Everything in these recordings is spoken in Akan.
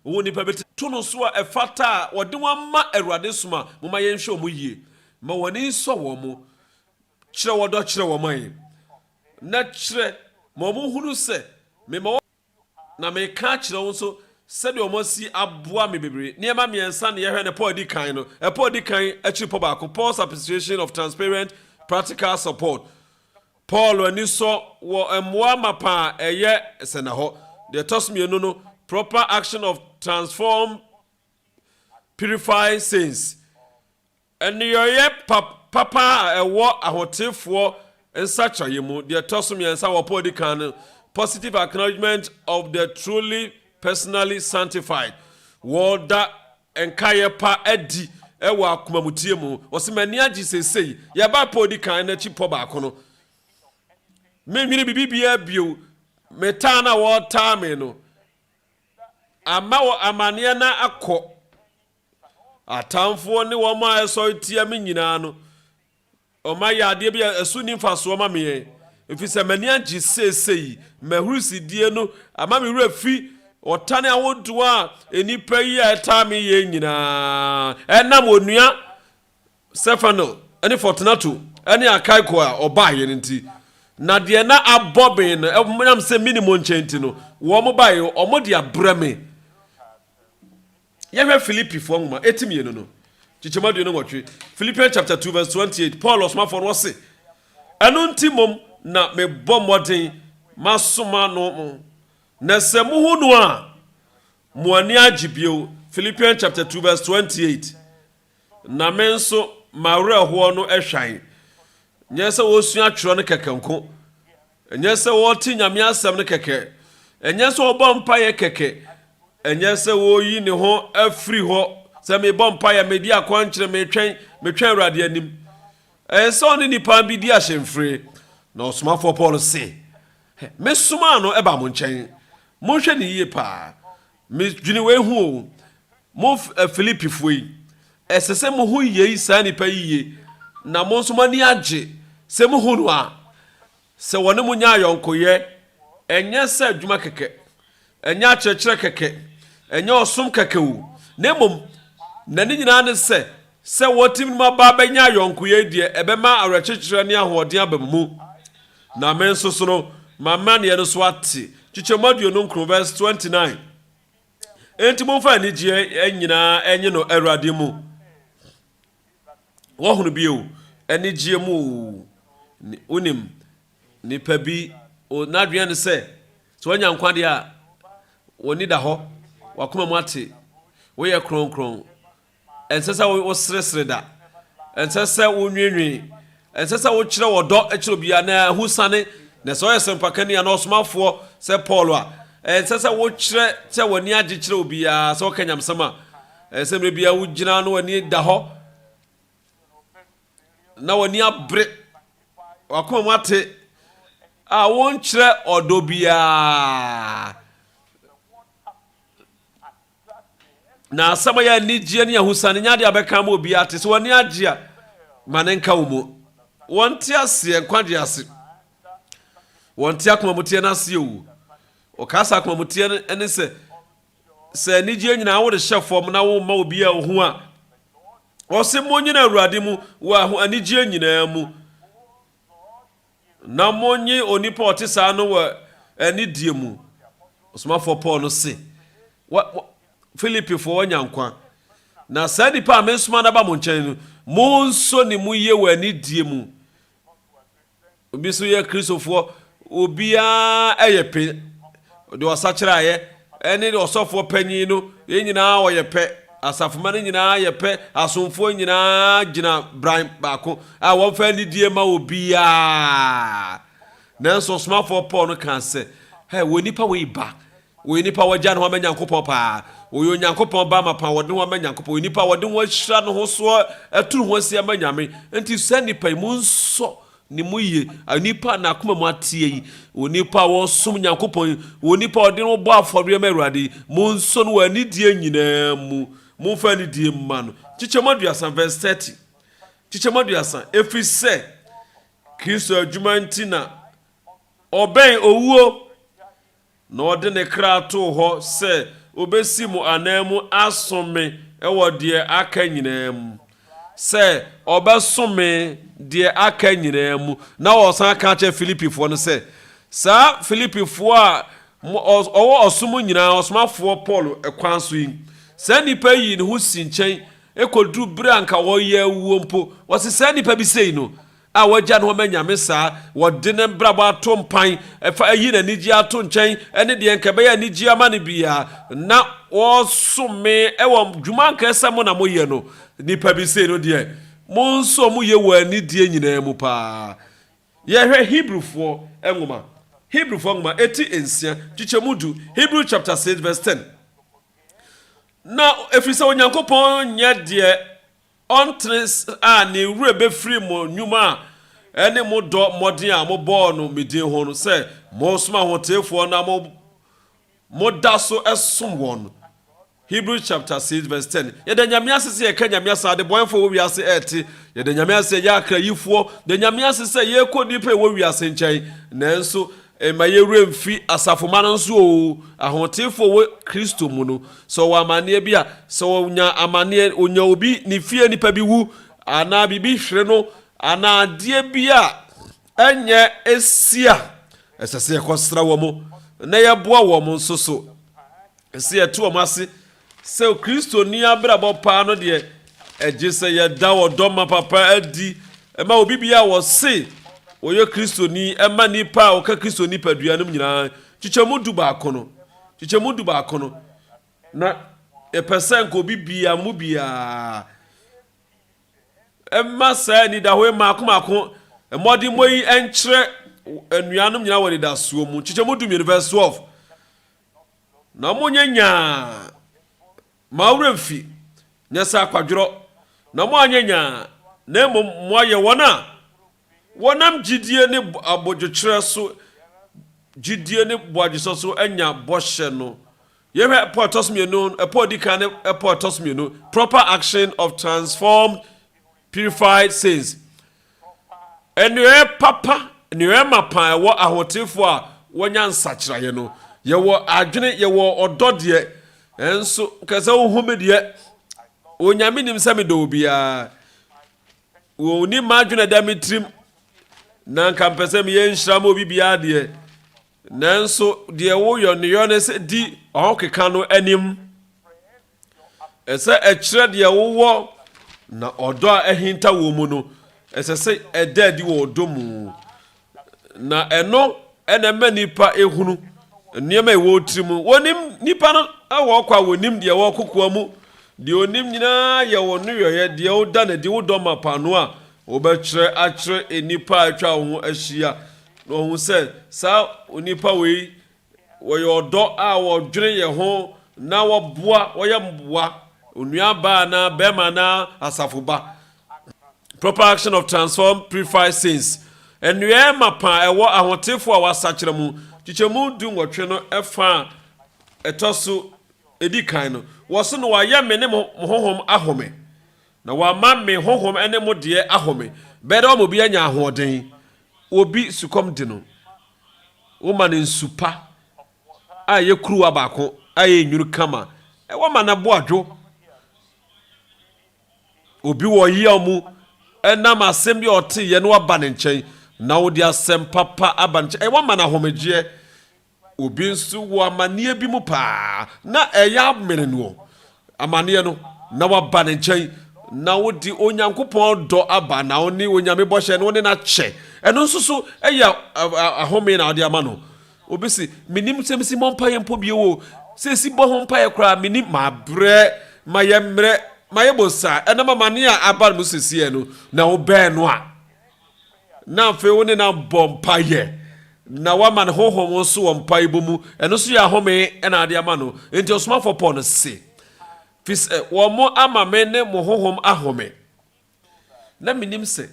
Wɔwɔ nnipa bi to no so a ɛfata a wɔde wɔn ama Awurade som a momma yɛnhwɛ wɔn yie. Ma wɔn ani nsɔ wɔn. Kyerɛ ɔdɔ kyerɛ wɔn ma yɛn, na kyerɛ ma wɔnhunu sɛ mema wɔn na meka akyerɛ wo nso sɛdeɛ wɔasi aboa me bebree. Nneɛma mmiɛnsa na yɛhwɛ no pɔ a ɛdi kan no. Ɛpɔ a ɛdi kan akyiri pɔ baako, Paul's appreciation of transparent practical support. Paul ani sɔ wɔ mmoa mapa a ɛyɛ sɛnnahɔ. Deɛ ɛtɔ so mmienu no, proper action of transform purify saints, nneyɔeɛ pap papa a ɛwɔ ahoteefoɔ nsakyeraeɛ mu. Deɛ ɛtɔ so mmiɛnsa wɔ pɔ a ɛdi kan no, positive acknowledgement of the truly personally sanctified, wɔda nkaeɛ pa adi wɔ akomamuteɛ mu. Ɔse, M'ani agye seesei. Yɛbaa pɔ a ɔdi kan no akyi pɔ baako no, mennwene biribiara bio. Me taa no a wɔtaa me no ama wɔ amanneɛ no akɔ. Atamfoɔ ne wɔn a ɛsɔre tia me nyinaa no, Wɔn ayɛ adeɛ bi a ɛso nni mfasoɔ ma me, ɛfiri sɛ m'ani agye seesei. M'ahurisidie no ama me werɛ fi ɔtan ahodoɔ a nnipa yi a ɛtaa me yɛ nyinaa. Ɛnam Onua Stefano ne Fortunato ne Akaiko a wɔbaeɛ no nti, na deɛ na abɔ me no, ɛnam sɛ menni wɔn nkyɛn nti no, wɔbaeɛ, wɔde abrɛ me. Yɛhwɛ Filipifoɔ nwoma eti mmienu no, nkyekyɛmu aduonu nwɔtwe, Philippians chapter 2 verse 28, Paul ɔsomafoɔ no ɔse, Ɛno nti mmom na mebɔ mmɔden masoma no mo, na sɛ mohu no a, mo ani agye bio, Philippians chapter 2 verse 28, Na me nso m'awerɛhoɔ no hwan? Nyɛ sɛ wɔsua twerɛ no kɛkɛ nko, ɛnyɛ sɛ wɔte Nyame asɛm no kɛkɛ, ɛnyɛ sɛ wɔbɔ mpaeɛ kɛkɛ, ɛnyɛ sɛ wɔyi ne ho afiri hɔ, sɛ mebɔ mpaeɛ, medi akwankyerɛ, metwɛn, metwɛn Awurade anim. Ɛyɛ sɛ ɔne nipa bi di ahyɛmfire. Na ɔsomafoɔ Paul se, Mesomaa no ba mo nkyɛn. Monhwɛ no yie paa. Medwene wei ho o, mo Filipifoɔ yi, ɛsɛ sɛ mohu yei saa nnipa yi yie, na mo nso moani agye sɛ mohu no a, sɛ wɔne mo nya ayɔnkoyɛ, ɛnyɛ sɛ adwuma kɛkɛ, ɛnyɛ akyerɛkyerɛ kɛkɛ, ɛnyɛ ɔsom kɛkɛ o, na mmom na ne nyinaa ne sɛ, sɛ wɔtim no mu aba bɛnya ayɔnkoyɛ yi deɛ ɛbɛma awerɛkyekyerɛ ne ahoɔden aba mo mu. Na me nso so no, m'amanneɛ no so ate. Nkyekyɛmu aduonu nkron vɛs twenty nine Enti momfa anigyeɛ nyinaa nye no Awurade mu. Woahunu bi o, anigyeɛ mu o, wonim, nipa bi o, n'adweneɛ ne sɛ, sɛ wanya nkwa deɛ a, w'ani da hɔ, w'akoma mu ate, woyɛ kronkron, Ɛnsɛ sɛ woseresere da. Ɛnsɛ sɛ wonwiinwii. Ɛnsɛ sɛ wokyerɛ ɔdɔ kyerɛ obiara na ahusiane. Na sɛ ɔyɛ sɛmpakani anaa ɔsomafoɔ sɛ Paul a, ɛnsɛ sɛ wokyerɛ sɛ w'ani agye kyerɛ obiara sɛ ɔka nyamesɛm a. Ɛsɛ sɛ mmerɛ biara wogyina na w'ani da hɔ na w'ani abere, w'akoma mu ate a wonkyerɛ ɔdɔ biara. Na asɛm a yɛ anigyeɛ ne ahosane nyɛ adeɛ a bɛka ama obiara ate. Sɛ w'ani agye a, ma ne nka wo mu. Wɔnte aseɛ nkwagyeɛ ase. Wɔnte akomamuteɛ no aseɛ o. Wɔkaa sɛ akomamuteɛ no ne sɛ, sɛ anigyeɛ nyinaa wode hyɛ fam na womma obiara ɔhu a, wɔse monyina Awurade mu wɔ anigyeɛ nyinaa mu. na monnye onipa a ɔte saa no wɔ anidie mu. Ɔsomafoɔ Paul no se, wa, wa, Filipifoɔ wanya nkwa, na saa nipa a mesoma no aba mo nkyɛn no, monso ne mu yie wɔ anidie mu. Obi nso yɛ Kristofoɔ, obiara yɛ pe Ɔde ɔsakyeraeɛ ne ɔsɔfoɔ panin no, yɛn nyinaa wɔyɛ pɛ. Asafomma no nyinaa yɛ pɛ. Asomfoɔ nyinaa gyina bran baako a wɔmfa anidie ma obiara. Nanso ɔsomafoɔ Paul no kaa sɛ, Hɛ, wɔ nnipa wei ba. Wɔyɛ nnipa a wɔagya ne ho ama Nyankopɔn paa. Wɔyɛ Onyankopɔn ba amapa a wɔde ne ho ama Nyankopɔn. Wɔyɛ nnipa a wɔde ho ahyira ne ho so atu ne ho asi ama Nyame. Enti saa nnipa yi, monsɔ Ne mu ye. Onipa a n'akoma mu ateɛ yi, onipa a ɔresom Nyankopɔn yi, onipa a ɔde ne ho bɔ afɔreɛ ma Awurade yi, monsɔ no wɔ anidie nyinaa mu. Momfa anidie mma no. Nkyekyɛmu aduasa, verse thirty. Nkyekyɛmu aduasa, Ɛfiri sɛ Kristo adwuma nti na ɔbɛn owuo. Na ɔde ne kra too hɔ sɛ obesi mo ananmu asom me wɔ deɛ aka nyinaa mu. Sɛ ɔbɛsom me deɛ aka nyinaa mu. Na ɔsan ka kyerɛ Filipifoɔ no sɛ, Saa Filipifoɔ a ɔwɔ ɔsom nyinaa ɔsomafoɔ Paulo kwan so yi, saa nnipa yi yii ne ho sii nkyɛn kɔduruu berɛ a anka wɔreyɛ awuo mpo. Wɔse, Saa nnipa bi sei no, a wagya no ama Nyame saa, wɔde ne mbrabɔ ato mpan, fa ayi n'anigyeɛ ato nkyɛn ne deɛ nka ɛbɛyɛ anigyeɛ ama no biara, na wɔsom me wɔ dwuma anka sɛ mo na moyɛ no, nnipa bi sei no deɛ mo nso moyɛ wɔ anidie nyinaa mu paa. Yɛhwɛ Hebrifoɔ nwoma, Hebrifoɔ nwoma eti nsia, kyekyɛmu du, Hebrew chapter six verse ten, Na ɛfiri sɛ Onyankopɔn nyɛ deɛ Ɔntere a ne werɛ bɛfiri mo nnwuma ne mo dɔ mmɔden a mobɔɔ no me din ho no, sɛ moresom ahoteefoɔ na moda so som wɔn no. Hebrews chapter 6 verse 10 Yɛda Nyame ase sɛ yɛka Nyame asa adebɔeɛfoɔ wɔ wiase ɛrete, yɛda Nyame ase sɛ yɛyɛ akrayifoɔ, yɛda Nyame ase sɛ yɛrekɔ nnipa a ɛwɔ wiase nkyɛn, nanso Mma yɛn werɛ mfi asafomma no nso oo. Ahoteefo a wɔwɔ Kristo mu no, sɛ wɔwɔ amanneɛ bi a, sɛ wɔnya amanneɛ, wɔnya obi, ne fie nipa bi wu, anaa biribi hwere no, anaa adeɛ bi a ɛnyɛ si a, ɛsɛ sɛ yɛkɔsra wɔn, na yɛboa wɔn nso so sɛ yɛte wɔn ase Sɛ Kristoni abrabɔ paa no deɛ, ɛgye sɛ yɛda ɔdɔ ma papa adi ma obi bia a wɔse ɔyɛ Kristoni ma nnipa a wɔka Kristo nipadua nom nyinaa, nkyekyɛmu du baako no, nkyekyɛmu du baako no, na yɛpɛ sɛ nka obi bia mo biara ɛma saa anidaho yi maako maako mmɔdemmɔ yi nkyerɛ anuanom nyinaa wɔ anidasoɔ mu, nkyekyɛmu du mmienu, verse 12. na monyɛ nyaa, mma wo werɛ mfi, nyɛ sɛ akwadworɔ, na moanyɛ nyaa, na mmom moayɛ wɔn a wɔnam gyidie ne abodwokyerɛ so, gyidie ne boadwosɔ so anya bɔhyɛ no. Yɛhwɛ ɛpɔ a ɛtɔ so mmienu, ɛpɔ a ɔdi kan ne ɛpɔ a ɛtɔ so mmienu, proper action of transformed purified sins. Nnuaɛ papa, nnuaɛ mapa a ɛwɔ ahotefoɔ a wɔanya nsakyeraeɛ no, yɛwɔ adwene, yɛwɔ ɔdɔ deɛ, nso kɛ sɛ wohu me deɛ, Onyame nim sɛ medɔ obiara. Wɔnim m'adwene ɛda me tirim, na nka mpɛ sɛ meyɛ nhyira ma obi biara deɛ, nanso deɛ woyɔ ne yɔ ne sɛ di ɔhokeka no anim. Ɛsɛ ɛkyerɛ deɛ wowɔ na ɔdɔ a ahinta wɔ mu no ɛsɛ sɛ ɛda adi wɔ ɔdɔ mu na ɛno ɛna ɛma nipa ehunu nneɛma ɛwɔ tiri mu wɔnim nipa no ɛwɔ ɔkɔ a wɔnim deɛ ɛwɔ kokoa mu deɛ onim nyinaa yɛ wɔn no yɔyɛ deɛ woda na di wodɔ ma paano a wɔbɛkyerɛ akyerɛ nipa a atwa wɔn ho ahyia na wɔn sɛ saa onipa wei Wɔyɛ ɔdɔ a wɔdwene yɛn ho na wɔboa, wɔyɛ mmoa, onua baa anaa barima anaa asafo ba. Proper action of transform purifies sins. Nnuaɛ mapa a ɛwɔ ahotefo a wɔasakyera mu nkyekyɛmu du nwɔtwe no ɛfa a ɛtɔ so edi kan no, wɔ so no wɔayɛ me ne mo honhom ahome, na wɔama me honhom ne mo deɛ ahome, bɛyɛ dɛ wɔama obi anya ahoɔden, obi sukɔm de no. Woma no nsu pa a ɛyɛ kuruwa baako a ɛyɛ nwunu kama. Wama no bo adwo. Obi wɔ ɔyaw mu ɛnam asɛm bi a ɔteeɛ na waba ne nkyɛn na wode asɛm papa aba ne nkyɛn. Wama no ahomegyeɛ. Obi nso wɔ amanneɛ bi mu paa na ɛyɛ amene noɔ. Amaneɛ no, na waba ne nkyɛn, na wode Onyankopɔn dɔ aba, na wone Onyame bɔhyɛ no, wone no akyɛ. Ɛno nso so ɛyɛ ahome na wode ama no. Obi se, menim sɛ mesi mmɔ mpaeɛ mpo bio o, sɛ ɛsi bɔ ho mpaeɛ koraa menim, mabrɛ, mayɛ mmerɛ, mayɛ bosaa, ɛnam amaneɛ a aba no mu seseɛ no, na wobɛn no a, na afei wo ne no abɔ mpaeɛ na woama no honhom nso wɔ mpaebɔ mu ɛno nso yɛ ahome na ade ama no nti ɔsomafoɔ paul no se fi sɛ wɔn mo ama me ne mo honhom ahome na menim sɛ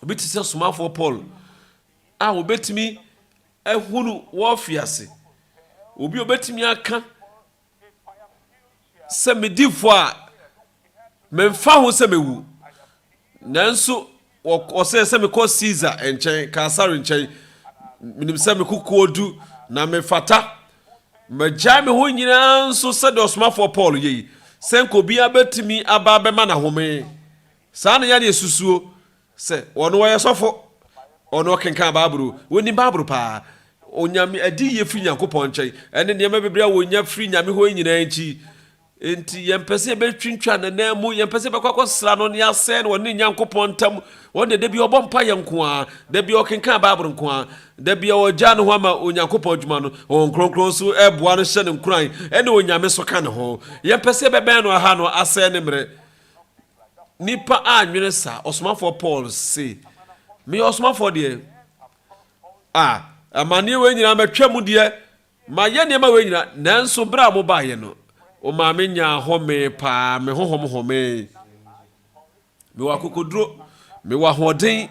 obi te sɛ somafoɔ paul a wɔbɛtumi ahunu wɔfi ase obi obɛtumi aka sɛ medi fɔ a, memfa ho sɛ mewu. Nanso wɔsɛɛ sɛ mekɔ Caesar nkyɛn, Kaesare nkyɛn. Menim sɛ me kokoɔ du na mefata. Magyae me ho nyinaa nso sɛdeɛ ɔsomafoɔ Paul yɛ yi, sɛ nka obiara bɛtumi aba abɛma no ahome. Saa na yɛn yɛsusuo, Sɛ ɔno ɔyɛ sɔfo, ɔno ɔkenkan Bible o, onim Bible paa, onyame adiyie firi Nyankopɔn nkyɛn, ɛne nneɛma bebree a wɔnya firi Nyame hɔ yi nyinaa nti, nti yɛmpɛ sɛ yɛbɛtwintwa ne nan mu, yɛmpɛ sɛ yɛbɛkɔ akɔsra no ne asɛe no, ɔne ne Nyankopɔn ntam, ɔno deɛ da bia ɔbɔ mpaeɛ nko ara, da bia ɔkenkan Bible nko ara, da bia ɔgyaa ne ho ama Onyankopɔn adwuma no, Honhom Kronkron nso boa no hyɛ no nkuran, ɛne onyame nso ka ne ho. Yɛmpɛ sɛ yɛbɛbɛn no aha no asɛe ne mmerɛ. nnipa annwene saa. Ɔsomafoɔ Paul se, meyɛ ɔsomafoɔ deɛ, a amanneɛ wei nyinaa matwa mu deɛ, mayɛ nneɛma wei nyinaa, nanso berɛ a mobaeɛ no, ɔmaa me nyaa home paa, me honhom homee. Mewɔ akokoduro, mewɔ ahoɔden.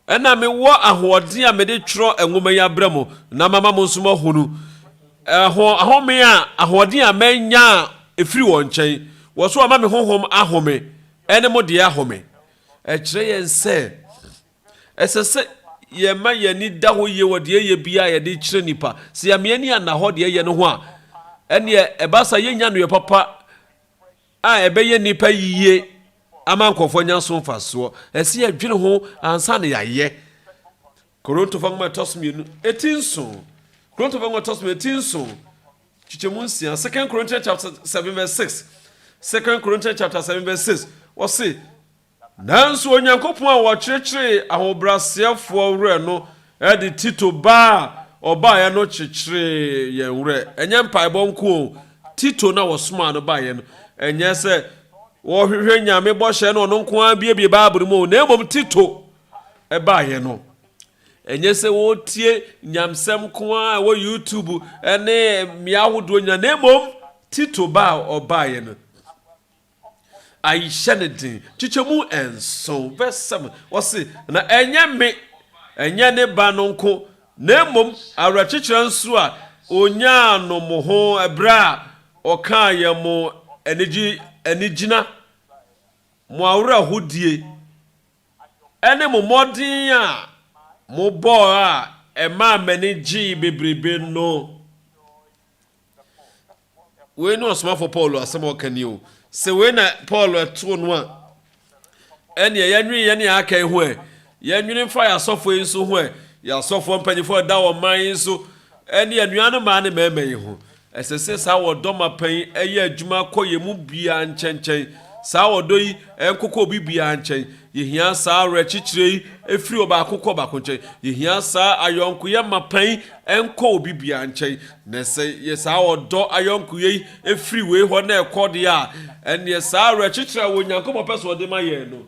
Ɛna mewɔ ahoɔden a mede twerɛ nwoma yi abrɛ mo na mama mo nso moahunu ɛho ahome a ahoɔden a manya a ɛfiri wɔn nkyɛn, wɔ so wɔama me honhom ahome, ɛne mo deɛ ahome. Ɛkyerɛ yɛn sɛ ɛsɛ sɛ yɛma yɛn ani da hɔ yie wɔ deɛ yɛyɛ biara a yɛde kyerɛ nnipa. Sɛ yɛama yɛn ani anna hɔ deɛ yɛyɛ no ho a, ɛnneɛ ɛba saa yɛnnya nneyɔɛ papa. a ɛbɛyɛ nnipa yiye ama nkurɔfoɔ anya so mfasoɔ. Ɛsɛ sɛ yɛdwene ho ansa na yɛayɛ. Korintofoɔ nwoma ɛtɔ so mmienu eti nson. Korintofoɔ nwoma ɛtɔ so mmienu eti nson. Kyekyɛmu nsia. Second Corinthians chapter seven verse six. Second Corinthians chapter seven verse six. Wɔse Nanso Onyankopɔn a ɔkyekyeree ahobrɛaseɛfoɔ werɛ no de Tito ba a ɔbaeɛ no kyekyeree yɛn werɛ. Ɛnyɛ mpaebɔ nko o, Tito no a ɔsomaa no baeɛ no, ɛnyɛ sɛ ɔhwehwɛ Nyame bɔhyɛ na ɔno nko ara buebue Bible mu o, na mmom Tito baeɛ no, ɛnyɛ sɛ ɔretie nyamsɛm nko ara a ɛwɔ YouTube ne mmea ahodoɔ nyinaa, na mmom Tito ba a ɔbaeɛ no, Ahyɛ no den. Kyekyɛ mu nson, verse seven, ɔse, Na ɛnyɛ me, ɛnyɛ ne ba no nko, na mmom awerɛkyekyerɛ nso a onyaa no mo ho bere a ɔkaa yɛn mo anigye, anigyina, mo awerɛhodie, ne mo mmɔden a mobɔɔ a ɛmaa m'ani gyee bebrebe no. wei ne ɔsomafoɔ paul asɛm a ɔka ni o sɛ wei na paul ɛtoo no a ɛneɛ yɛnwene yɛne aka yi ho ɛ yɛnwene mfa yɛ asɔfoɔ yi nso ho ɛ yɛ asɔfoɔ mpanyinfoɔ ɛda wɔ man yi nso ɛne anua no maa ne mɛɛma yi ho ɛsɛ sɛ saa wɔdɔ ma pɛn ɛyɛ adwuma kɔ yɛ mu biaa nkyɛnkyɛn saa wɔdɔ yi ɛnkokɔ obi biaa nkyɛn yɛhia saa awerɛkyekyerɛ yi ɛfiri ɔbaako kɔ ɔbaako nkyɛn yɛhia saa ayɔnkoyɛ ma pɛn ɛnkɔ obi biaa nkyɛn Na sɛ yɛ saa ɔdɔ ayɔnkoyɛ yi firi wei hɔ na ɛkɔ deɛ a, ɛnneɛ saa awerɛkyekyerɛ a Onyankopɔn pɛ sɛ ɔde ma yɛn no,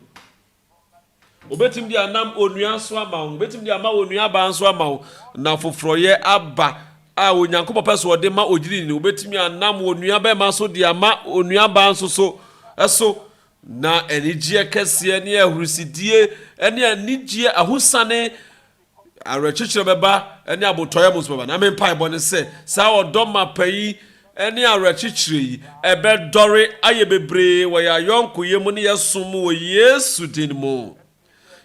ɔbɛtumi de anam onua nso ama wo, ɔbɛtumi de ama onuabaa nso ama wo, na foforɔyɛ aba a Onyankopɔn pɛ sɛ ɔde ma ogyidini no, ɔbɛtumi anam onuabɛma so de ama onuabaa nso so so. Na anigyeɛ kɛseɛ ne ahurusidie ne anigyeɛ ahosane Awerɛkyekyerɛ bɛba ne abotɔeɛ mu nso bɛba. Na me mpaebɔ ne sɛ saa ɔdɔ mapa yi ne awerɛkyekyerɛ yi ɛbɛdɔre ayɛ bebree wɔ yɛn ayɔnkoyɛ mu ne yɛn som mu wɔ Yesu din mu.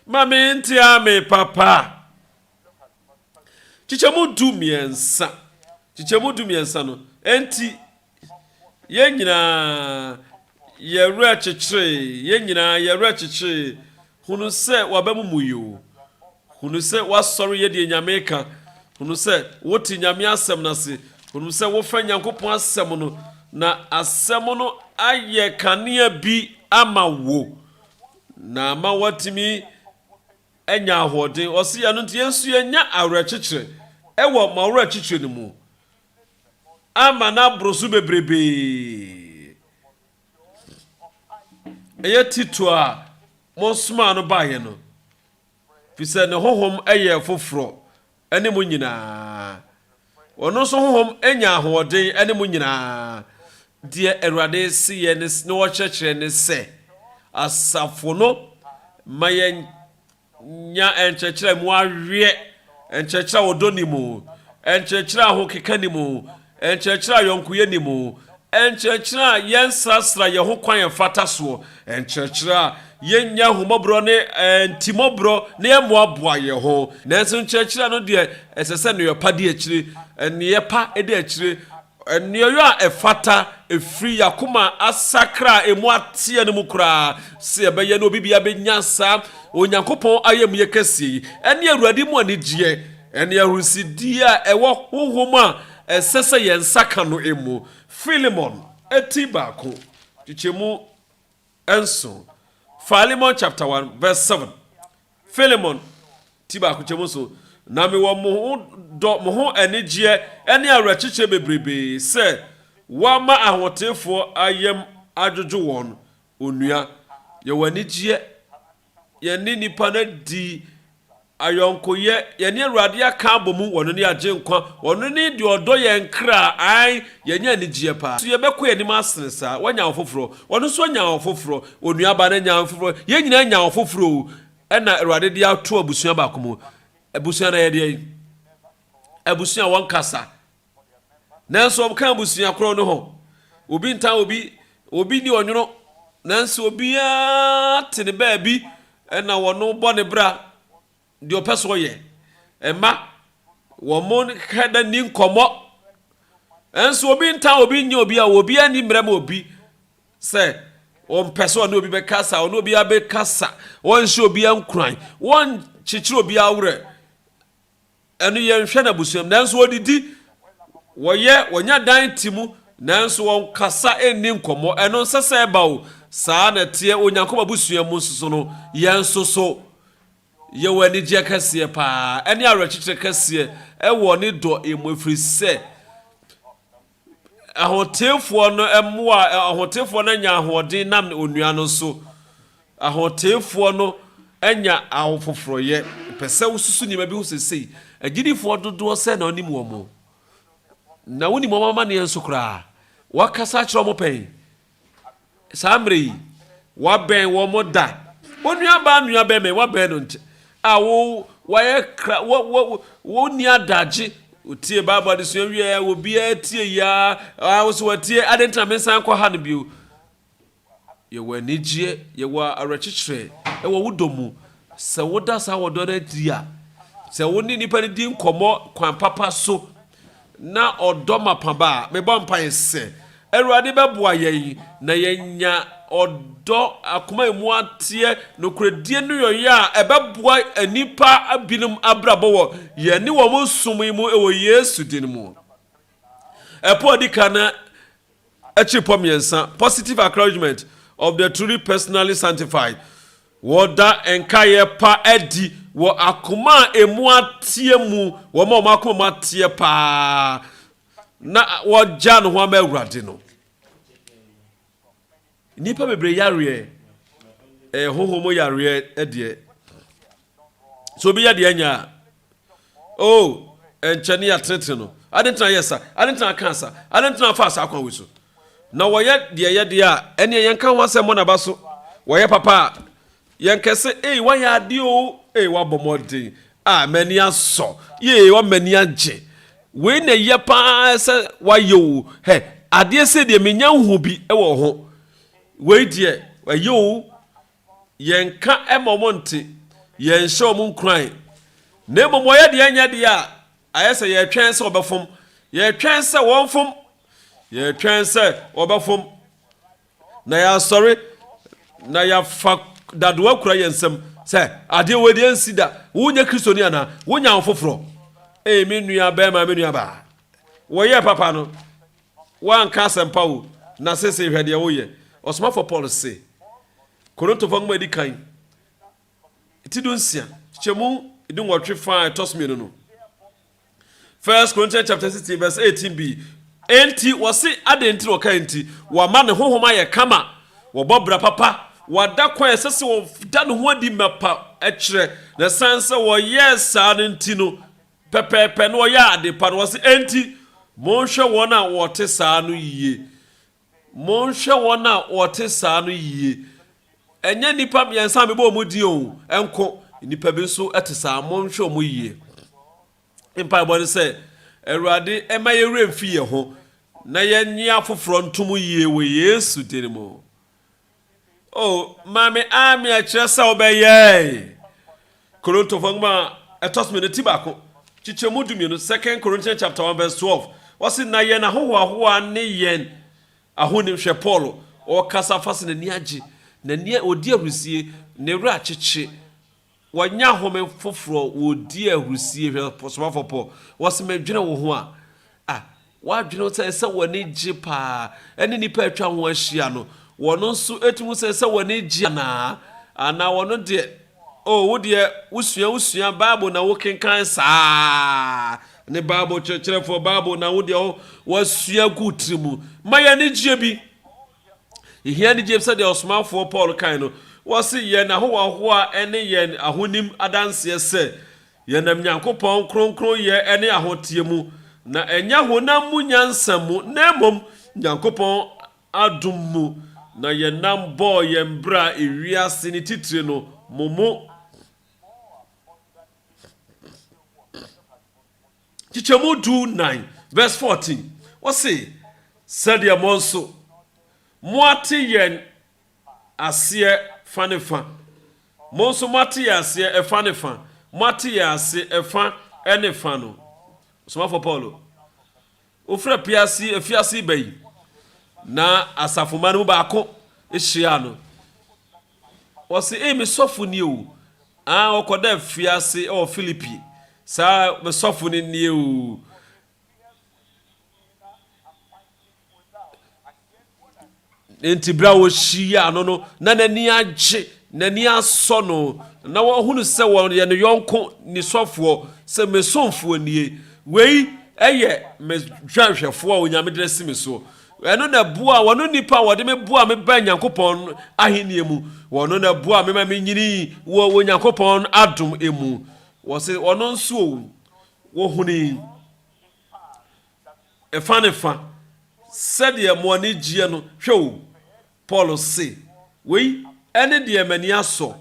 Ma me ntea me papa. Kyekyɛmu du mmiɛnsa. Kyekyɛmu du mmiɛnsa no, enti. Yɛn nyinaa yɛn werɛ kyekyeree, yɛn nyinaa yɛn werɛ kyekyeree, hunu sɛ waba mu mu yoo, hunu sɛ woasɔre yɛ deɛ Nyame reka, hunu sɛ wote Nyame asɛm no ase, hunu sɛ wofɛ Nyankopɔn asɛm no, na asɛm no ayɛ kanea bi ama wo, na ama woatumi anya ahoɔden. Ɔse ɛno nti yɛn nso yɛnya awerɛkyekyerɛ ɛwɔ mo awerɛkyekyerɛ no mu, ama no aboro so bebrebe. Ɛyɛ Tito a mosomaa no baeɛ no, fi sɛ ne honhom yɛ foforɔ ne mo nyinaa. Ɔno nso honhom nya ahoɔden ne mo nyinaa. Deɛ Awurade se yɛ ne na ɔkyerɛkyerɛ ne sɛ, asafo no ma yɛn Nya nkyerɛkyerɛ a emu aweɛ, nkyerɛkyerɛ a ɔdɔ nni mu, nkyerɛkyerɛ a ahokeka nni mu, nkyerɛkyerɛ a yɔnkoyɛ nni mu, nkyerɛkyerɛ a yɛnsrasra yɛn ho kwan a ɛmfata soɔ, nkyerɛkyerɛ a yɛnnya ahummɔborɔ ne ntimmɔborɔ na yɛmmoaboa yɛn ho. Nanso nkyerɛkyerɛ no deɛ, ɛsɛ sɛ nneɛpa di akyire, nneɛpa di akyire, Nnuayo a ɛfata firi yɛn akoma a asakra a emu ateɛ no mu koraa. Sɛ yɛbɛyɛ na obi biara bɛnya saa Onyankopɔn ayamye kɛseɛ yi, ɛne Awurade mu anigyeɛ, ɛne ahurisidie a ɛwɔ honhom a ɛsɛ sɛ yɛn nsa ka no mu. Filemon ti baako, kyekyɛmu Nso, Philemon chapter one verse seven, Philemon ti baako kyɛ mu nso, Na mewɔ mo ho dɔ, mo ho anigyeɛ ne awerɛkyekyerɛ bebrebee sɛ wɔama ahoteefoɔ ayam adwodwo wɔn, onua, yɛwɔ anigyeɛ, Yɛne nnipa no adi ayɔnkoyɛ. Yɛne Awurade aka abɔ mu. Ɔno ne Agyenkwa. Ɔno ne deɛ ɔdɔ yɛn kra. Aane, yɛanya anigyeɛ paa. So yɛbɛkɔ yɛn anim asene saa? Woanya ɔfoforɔ? Ɔno nso anya ɔfoforɔ. Onuabaa no anya ɔfoforɔ. Yɛn nyinaa anya ɔfoforɔ o. Ɛna Awurade de ato abusua baako mu. Abusua no yɛ deɛn? Abusua a wɔnkasa. Nanso wɔka abusua koro no ho. Obi ntaa obi, obi ni ɔnwono, nanso obiara te ne baabi na wɔn bɔ ne bra deɛ ɔpɛ so ɔyɛ. Ɛma wɔn hɛda nni nkɔmmɔ. Nanso obi ntaa obi nyɛ obi a obiara ni mmerɛ ma obi sɛ ɔmpɛ sɛ ɔne obi bɛkasa, ɔne obi abɛkasa, wɔnhyɛ obi nkuran, wɔnkyekyere obi awerɛ. Ɛno yɛ nhwɛ na abusua mu nanso wɔdidi, wɔyɛ, wɔnya dan te mu nanso wɔnkasa nni nkɔmmɔ. Ɛno nsɛ sɛ ɛba o. Saa na ɛteɛ wɔ Nyankopɔn abusua mu nso so no. Yɛn nso so, yɛwɔ anigyeɛ kɛseɛ paa ne awerɛkyekyerɛ kɛseɛ wɔ Ne dɔ mu ɛfiri sɛ, Ahoteefoɔ no mmoa a Ahoteefoɔ no anya ahoɔden nam onua no so. Ahoteefoɔ no anya ahofoforɔyɛ. Mepɛ sɛ wosusu nneɛma bi ho seesei. Agyidifoɔ dodoɔ sɛn na wonim wɔn? Na wonim wɔn amanneɛ nso koraa? Woakasa akyerɛ wɔn pɛn? Saa mmerɛ yi, wɔabɛn wɔn da. Wo nuabaa nua bɛn bɛn wabɛn no nkyɛ a wo wayɛ kra wo wo wo ni adagye otie bible adesua wie a obiara tie yi a a wo so watie ade ntina me nsan kɔ ha no bio yɛwɔ anigyeɛ yɛwɔ awerɛkyekyerɛ ɛwɔ wo dɔ mu sɛ woda saa wɔdɔ no adi a sɛ wo ne nipa no di nkɔmmɔ kwan papa so na ɔdɔ mapã ba a, mebɔ mpae sɛ Awurade bɛboa yɛn na yɛanya ɔdɔ, akoma a emu ateɛ, nokorɛdie ne ɔyɛ a ɛbɛboa nnipa binom abrabɔ wɔ yɛn ne wɔn som yi mu wɔ Yesu din mu. Ɛpo a ɛdi kan no Akyirepɔ mmiɛnsa, Positive Acknowledgement of the Truly Personally Sanctified, Wɔda nkaeɛ pa adi wɔ akoma a emu ateɛ mu, wɔn a wɔn akoma mu ateɛ paa na wɔagya no ho ama Awurade no. Nnipa bebree yareɛ, ɛyɛ honhom mu yareɛ deɛ. So obi yɛ deɛ anya a, oh, ɛnkyɛ ne yɛatenetene no. Ade ntina yɛ sa, ade ntina aka sa, ade ntina afa saa kwan wei so. Na wɔyɛ deɛ yɛdeɛ a, ɛneɛ yɛnka ho asɛm mmɔ n'aba so. Wɔyɛ papa a, Yɛn kɛ sɛ, Ei, woayɛ adeɛ o! Ei, woabɔ mmɔden! Ah, m'ani asɔ! Yei, woama m'ani agye! Wei na ɛyɛ pa ara sɛ woayɛ o! Hɛ, adeɛ sei deɛ, mennya nhuu bi wɔ ho. Wei deɛ, ɛyɛ o! Yɛnka mma wɔn nte, yɛnhyɛ wɔn nkuran. Na mmom wɔyɛ deɛ ɛnyɛ deɛ a, ayɛ sɛ yɛretwɛn sɛ wɔbɛfom. Yɛretwɛn sɛ wɔmfom. Yɛretwɛn sɛ wɔbɛfom. Na yɛasɔre, na yɛafa dadew akura yɛn nsam sɛ, Adeɛ wei deɛ ansi da. Wonyɛ Kristoni anaa? Wonya wo foforɔ? Ei, me nua bɛɛma, me nua baa. Wɔyɛɛ papa no, woanka asɛmpa o, na sesei hwɛ deɛ woyɛ. Ɔsomafoɔ Paul se, Korintofoɔ Nwoma a Edi Kan, ti du nsia, nkyɛmu du nwɔtwe fã a ɛtɔ so mmienu no, First Corinthians chapter sixteen verse eighteen bi. Enti wɔsi adan nti na ɔka nti wɔama ne honhom ayɛ kama, wɔbɔ bra papa, wɔada kwan a ɛsɛ sɛ wɔda ne ho adi mapa kyerɛ, na ɛsan sɛ wɔyɛɛ saa no nti no pɛpɛɛpɛ na wɔyɛɛ ade pa no. Wɔsi enti monhwɛ wɔn a wɔte saa no yiye. Monhwɛ wɔn a wɔte saa no yiye. Ɛnyɛ nnipa mmiɛnsa a mebɔɔ wɔn din o nko, nnipa bi nso te saa. Monhwɛ wɔn yiye. Me mpaebɔ ne sɛ, Awurade, mma yɛn werɛ mfi yɛn ho, na yɛnnye afoforɔ ntom yiye wɔ Yesu din mu. Oh, maame Ami, ɛkyerɛ sɛ wobɛyɛ Korontofo nwoma ɛtɔ so mmienu ti baako kyekyɛ mu dumienu Second Corinthians chapter one verse twelve. Wɔsi na yɛn ahohoahoa ne yɛn ahonim hwɛ Paul ɔkasa fa sɛ n'ani agye, n'ani odi ahurisie, ne werɛ akyekye. Wɔnya home foforɔ wɔdi ahurusie hwɛ somafoɔ pɔ wɔse medwene wo ho a ah wadwene ho sɛ ɛsɛ w'ani gye paa ɛne nnipa atwa ho ahyia no wɔn nso tumi hu sɛ ɛsɛ w'ani gye anaa anaa wɔn deɛ oh wo deɛ wosua wosua bible na wo kenkan saa ne bible kyerɛkyerɛfoɔ bible na wo deɛ wasua gu tiri mu ma yɛ ani gye bi Yehia ne gyem sɛdeɛ ɔsomafoɔ Paul kae no, ɔse, Yɛn ahohoahoa ne yɛn ahonim adanseɛ sɛ yɛnam Nyankopɔn kronkronyɛ ne ahoteɛ mu, na ɛnyɛ honam mu nyansa mu, na mmom Nyankopɔn adom mu na yɛnam bɔɔ yɛn bra ewiase ne titire no mo mu. Nkyekyɛmu du nnan vɛs fourteen, ɔse, Sɛdeɛ mo nso moate yɛn aseɛ fa ne fa, mo nso moate yɛn aseɛ ɛfa ne fa, moate yɛn ase ɛfa ne fa no, Ɔsomafoɔ Paulo. Wofrɛ Piasi afiase ba yi, na asafomma no mu baako hyiaa no. Wɔse, Ei, me sɔfo nie o! Aa, wɔkɔda afiase wɔ Filipi. Saa, me sɔfo no nie o! Enti bere a wɔhyiaa no no, na n'ani agye, n'ani asɔ no, na wɔhunu sɛ wɔyɛ ne yɔnko nisɔfoɔ, sɛ me somfoɔ nie, wei yɛ me dwanhwɛfoɔ a onyame de asi me soɔ. Ɛno na ɛboa wɔn nipa a wɔde me boa me bɛn Nyankopɔn ahenni mu. Wɔn na ɛboa me ma me nyini wɔ wɔ Nyankopɔn adom mu. Wɔsi wɔn nso wɔhuni. Ɛfa ne fa, sɛdeɛ mo ani gyeɛ no, hwɛ o, Paul se, wei ne deɛ m'ani asɔ,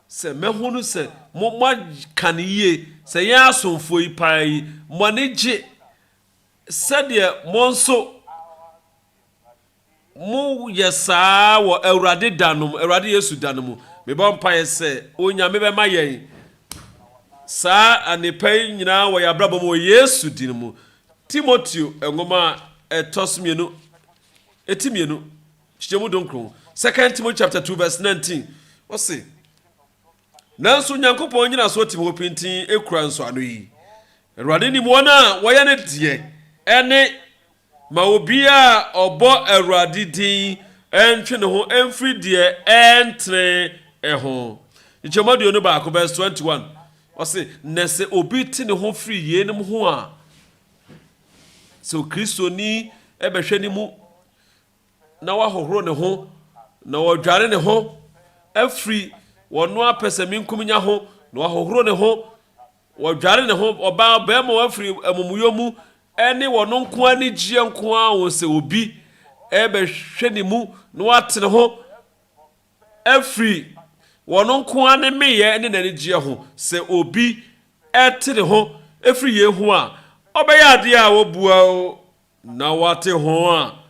sɛ mɛhunu sɛ mo, moaka no yie, sɛ yɛn asomfoɔ yi paa yi, mo ani gye sɛdeɛ mo nso. Moyɛ saa wɔ Awurade da no mu, Awurade Yesu da no mu. Mebɔ mpaeɛ sɛ Onyame bɛma yɛn saa annepa yi nyinaa wɔ yɛn abrabɔ mu wɔ Yesu din mu. Timoteo nwoma a ɛtɔ so mmienu, ti mmienu, kyekyɛmu donkron, Second Timothy chapter 2 verse 19, ɔse, Nanso Onyankopɔn nnyinasoɔ tim hɔ pintinn kura nsɔano yi, Awurade nim wɔn a wɔyɛ ne deɛ, ɛne Ma obiara a ɔbɔ Awurade din ntwe ne ho mfiri deɛ ɛntene ho. Nkyɛmu aduonu baako, verse twenty one, ɔse, Na sɛ obi te ne ho firi yeinom ho a, sɛ Kristoni bɛhwɛ ne mu na wahohoro ne ho na ɔdwane ne ho afiri ɔno ara pɛsɛmenkominya ho na wahohoro ne ho, Wɔdware ne ho, ɔbaa, ɔbarima, wɔafiri amumuyɔ mu, ɛne wɔn nko ara anigyeɛ nko ara wɔn sɛ obi rebɛhwɛ ne mu na wate ne ho afiri wɔn nko ara ne meyɛ ne n'anigyeɛ ho, sɛ obi te ne ho firi yei ho a, ɔbɛyɛ adeɛ a wɔbua Na wɔate ho a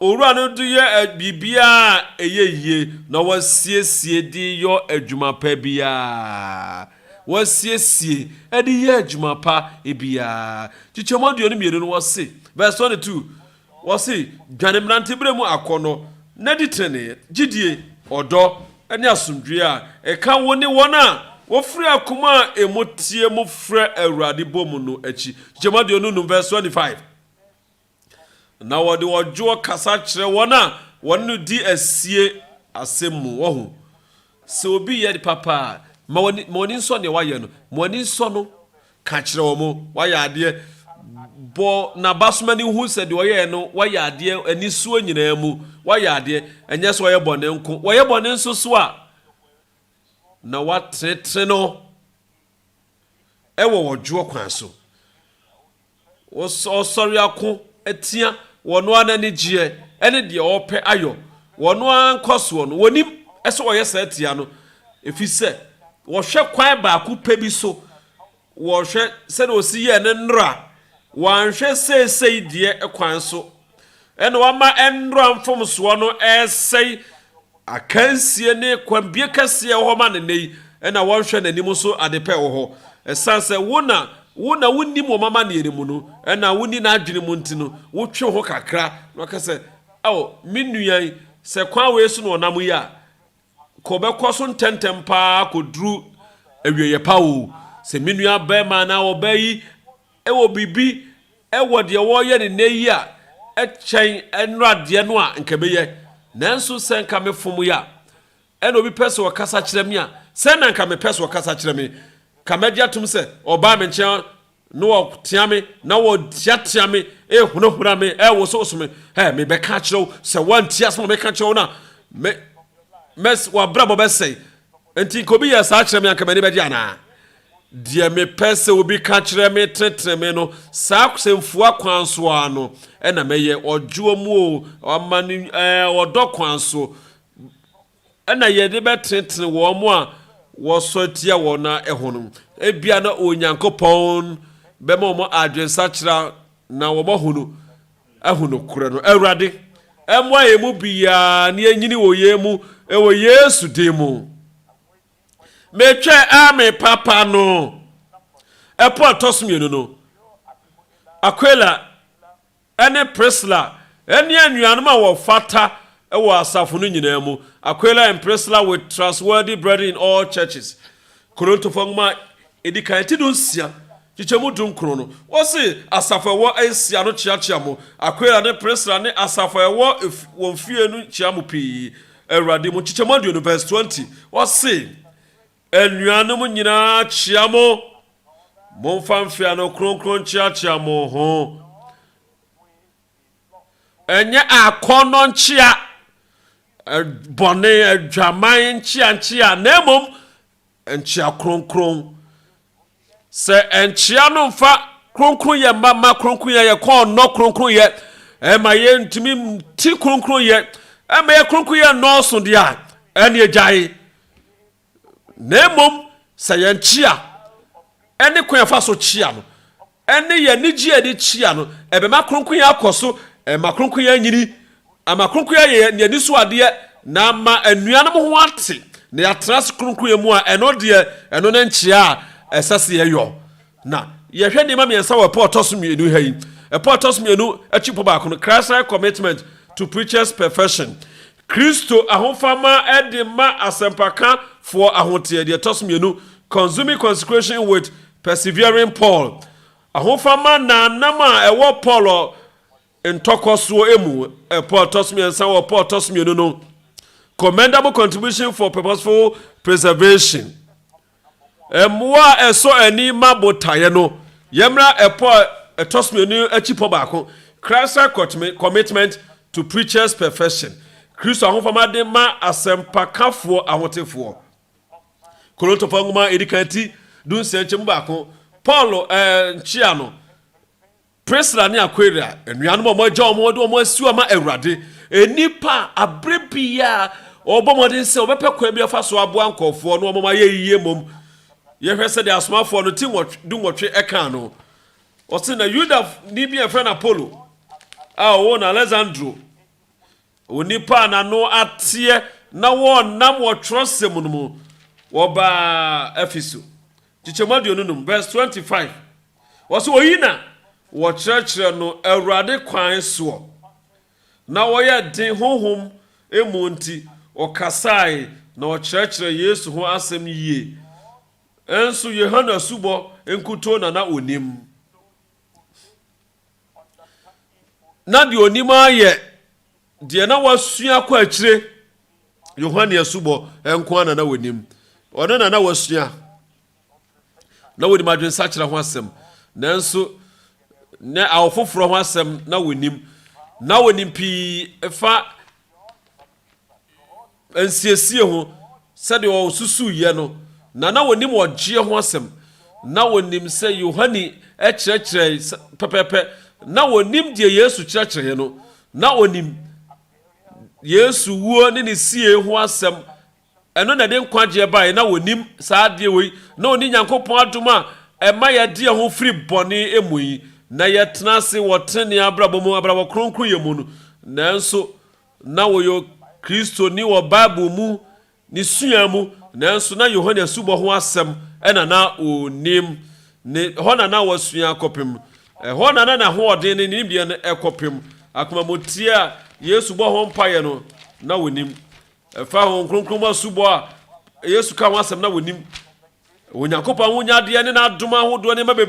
Owura no de yɛ biribiara a ɛyɛ yie na wɔasiesie de yɔ adwuma pa biara. Wɔasiesie de yɛ adwuma pa biara. Kyekyɛmu aduonu mmienu no wɔse, verse twenty two, wɔse, Dwane mmeranteberɛ mu akɔnnɔ, na di tenenee, gyedie, ɔdɔ, ne asomdwoeɛ a ɛka wo ne wɔn a wɔfiri akoma a emu teɛ mu frɛ Awurade bɔ mu no akyi. Nkyekyɛmu aduonu nnum vs twenty five. Na wɔde ɔdwoɔ kasa kyerɛ wɔn a wɔne no di asie asɛm mu. Wahu? Sɛ obi yɛ papa a, ma w'ani, ma w'ani nsɔ deɛ wayɛ no. Ma w'ani nsɔ no. Ka kyerɛ wɔn, Wayɛ adeɛ. Bɔ n'abasom ani hu sɛ deɛ ɔyɛɛ no, wayɛ adeɛ, anisoɔ nyinaa mu, wayɛ adeɛ. Ɛnyɛ sɛ ɔyɛ bɔne nko, wɔyɛ bɔne nso so a, na woatenetene no wɔ ɔdwoɔ kwan so. Wɔsɔre ako tia wɔn ara n'anigyeɛ ne deɛ ɔrepɛ ayɔ wɔn ara nkɔsoɔ no. Wɔnim sɛ wɔyɛ saa tia no, ɛfiri sɛ wɔhwɛ kwan baako pɛ bi so. Wɔhwɛ sɛdeɛ ɔsi yɛɛ ne nnora. Wɔanhwɛ seesei deɛ kwan so Ɛna wama nnora mfomsoɔ no resɛe akansie ne kwanbie kɛseɛ ɛwɔ hɔ ma no nnɛ yi, ɛna wɔnhwɛ n'anim nso adepɛ ɛwɔ hɔ. Ɛsiane sɛ wo na wo na wonnim wɔn amanneɛ no mu no, ɛna wonni n'adwene mu nti no, wotwe wo ho kakra na waka sɛ, Ao, me nua yi, sɛ kwan wei so na wɔnam yi a, Kɔ bɛkɔ so ntɛntɛm paa akɔduru awieeɛ pa o. Sɛ me nuabarima anaa ɔbaa yi wɔ biribi wɔ deɛ wɔreyɛ no nnɛ yi a ɛkyɛn nnuradeɛ no a, nka mɛyɛ. Nanso sɛ nka mefom yɛ a, ɛna obi pɛ sɛ ɔkasa kyerɛ me a, sɛn na nka mepɛ sɛ ɔkasa kyerɛ me? Nka mɛgye atom sɛ ɔbaa me nkyɛn Na wɔteɛ me, na wɔteatea me, rehunahuna me, rewosowoso me. Ɛ, mebɛka akyerɛ wo, sɛ woantie asɛm a meka kyerɛ wo no a, me, me, w'abrabɔ bɛsɛe. Enti nka obi yɛ saa kyerɛ me a, anka m'ani bɛgye anaa? Deɛ mepɛ sɛ obi ka kyerɛ me tenetene me no, saa sɛmfua kwan so ara no na mɛyɛ. Ɔdwoɔ mu o, ɔma ne, ɛɛ, ɔdɔ kwan so. na yɛde bɛtenetene wɔn a wɔsɔre tia wɔn no ho no, ebia na Onyankopɔn bɛma wɔn adwensakyera na wɔahunu ahu nokorɛ no. Awurade, mmoa yɛn mu biara na yɛnyini wɔ yei mu wɔ Yesu din mu. Metwɛn ara me papa no. Ɛpo a ɛtɔ so mmienu no, Aquila ne Prisla ne anuanom a wɔfata wɔ asafo no nyinaa mu, Aquila and Priscilla with trustworthy brethren in all churches, Korontofo Nwoma a Edi Kan, ti dunsia, nkyekyɛmu dunkron no. Wɔse, Asafo a ɛwɔ Asia no kyeakyea mo. Aquila ne Priscilla ne asafo a ɛwɔ wɔn fie no kyea mo pii, Awurade mu, nkyekyɛmu aduonu, verse twenty. Wɔse, Anuanom nyinaa kyea mo. Momfa mfeano kronkron nkyeakyea mo ho. Ɛnyɛ akɔnnɔ nkyea, bɔne, adwaman nkyeankyea, na mmom nkyea kronkron. Sɛ ɛnkyea no mfa kronkronyɛ mma ma kronkronyɛ yɛ kɔn nnɔ kronkronyɛ ɛma yɛ ntumi ti kronkronyɛ ɛma yɛ kronkronyɛ nnɔɔso deɛ a ɛne agyae na mmom sɛ yɛn kyea ɛne kwan afa so kyea no ɛne yɛn anigye a yɛde kyea no ɛbɛma kronkronyɛ akɔ so ɛma kronkronyɛ nyini Ama kronkronyɛ yɛ yɛn anisoadeɛ na ama anuanom ho ate na yɛatena ase kronkronyɛ mu a, ɛno deɛ, ɛno ne nkyea a ɛsɛ sɛ yɛyɔ. Na yɛhwɛ nneɛma mmiɛnsa wɔ ɛpɔ a ɛtɔ so mmienu ha yi. Ɛpɔ a ɛtɔ so mmienu akyi pɔ baako no, Christ-like commitment to preacher's perfection, Kristo ahofama de ma asɛmpakafoɔ ahoteɛ, deɛ ɛtɔ so mmienu, consuming consecration with persevering Paul, ahofama nnamnnam a ɛwɔ Paul, Ntɔkwasoɔ mu, Ɛpo a ɛtɔ so mmiɛnsa wɔ Ɛpo a ɛtɔ so mmienu no, Commendable Contribution for Purposeful Preservation. Mmoa a ɛsɔ ani ma botaeɛ no, Yɛmmra Ɛpo a ɛtɔ so mmienu akyi pɔ baako, Christ-like Commitment to Preachers' Perfection, Kristo Ahofama de ma Asɛmpakafoɔ Ahotefoɔ. Korintofoɔ Nwoma a Ɛdi Kan ti dunsia nkyɛmu baako, Paulo nkyea no. Priscilla ne Aquila, anuanom a wɔagyaw wɔn a wɔde wɔn asiw ama Awurade, nnipa a bere biara wɔbɔ mmɔden sɛ wɔbɛpɛ kwan bi afa so aboa nkurɔfoɔ na wɔma wɔayɛ yiye mmom. Yɛhwɛ sɛdeɛ asomafoɔ no ti dunwɔtwe kaa no. Wɔse na Yudani bi a yɛfrɛ no Apolo a ɔwɔ no Aleksandro wɔ nnipa a n'ano ateɛ na wɔnam wɔ twerɛsɛm no mu. Wɔbaa Efeso, nkyekyɛmu aduonu num, verse 25. Ɔse oyi na wɔkyerɛkyerɛ no Awurade kwan soɔ, na wɔyɛ den honhom mu nti, ɔkasae na ɔkyerɛkyerɛ Yesu ho asɛm yie. Nso Yohane asubɔ nkutoo na na ɔnim. Na deɛ ɔnim ara yɛ deɛ na wasua kɔ akyire, Yohane asubɔ nko ara na na ɔnim. Ɔno na na wasua. na wɔnim adwensakyera ho asɛm, nanso na awo foforɔ ho asɛm na wɔnim. Na wɔnim pii fa nsiesie ho sɛdeɛ wɔsusuiɛ no, na na wɔnim ɔgyeɛ ho asɛm. Na wɔnim sɛ Yohane kyerɛkyerɛe pɛpɛɛpɛ. Na wɔnim deɛ Yesu kyerɛkyerɛeɛ no. Na wɔnim Yesu wuo ne ne sie ho asɛm. Ɛno na ɛde nkwagyeɛ baeɛ, na wɔnim saa adeɛ wei, na wɔne Nyankopɔn adom a ɛma yɛde yɛn ho firi bɔne mu yi, na yɛtena ase wɔ tenenee abrabɔ mu, abrabɔ kronkronyɛ mu no. Nanso na wɔyɛ Kristoni wɔ Bible mu ne sua mu, nanso na Yohane asubɔ ho asɛm na na wɔnim, ne hɔ na na wɔasua akɔpem. Ɛhɔ na na n'ahoɔden ne ne nimdeɛ no kɔpem. Akomamuteɛ a Yesu bɔɔ ho mpaeɛ no, na wɔnim. Ɛfa Honhom Kronkron mu asubɔ a Yesu kaa ho asɛm na wonim. Onyankopɔn ahonyadeɛ ne n'adom ahodoɔ nneɛma bebree.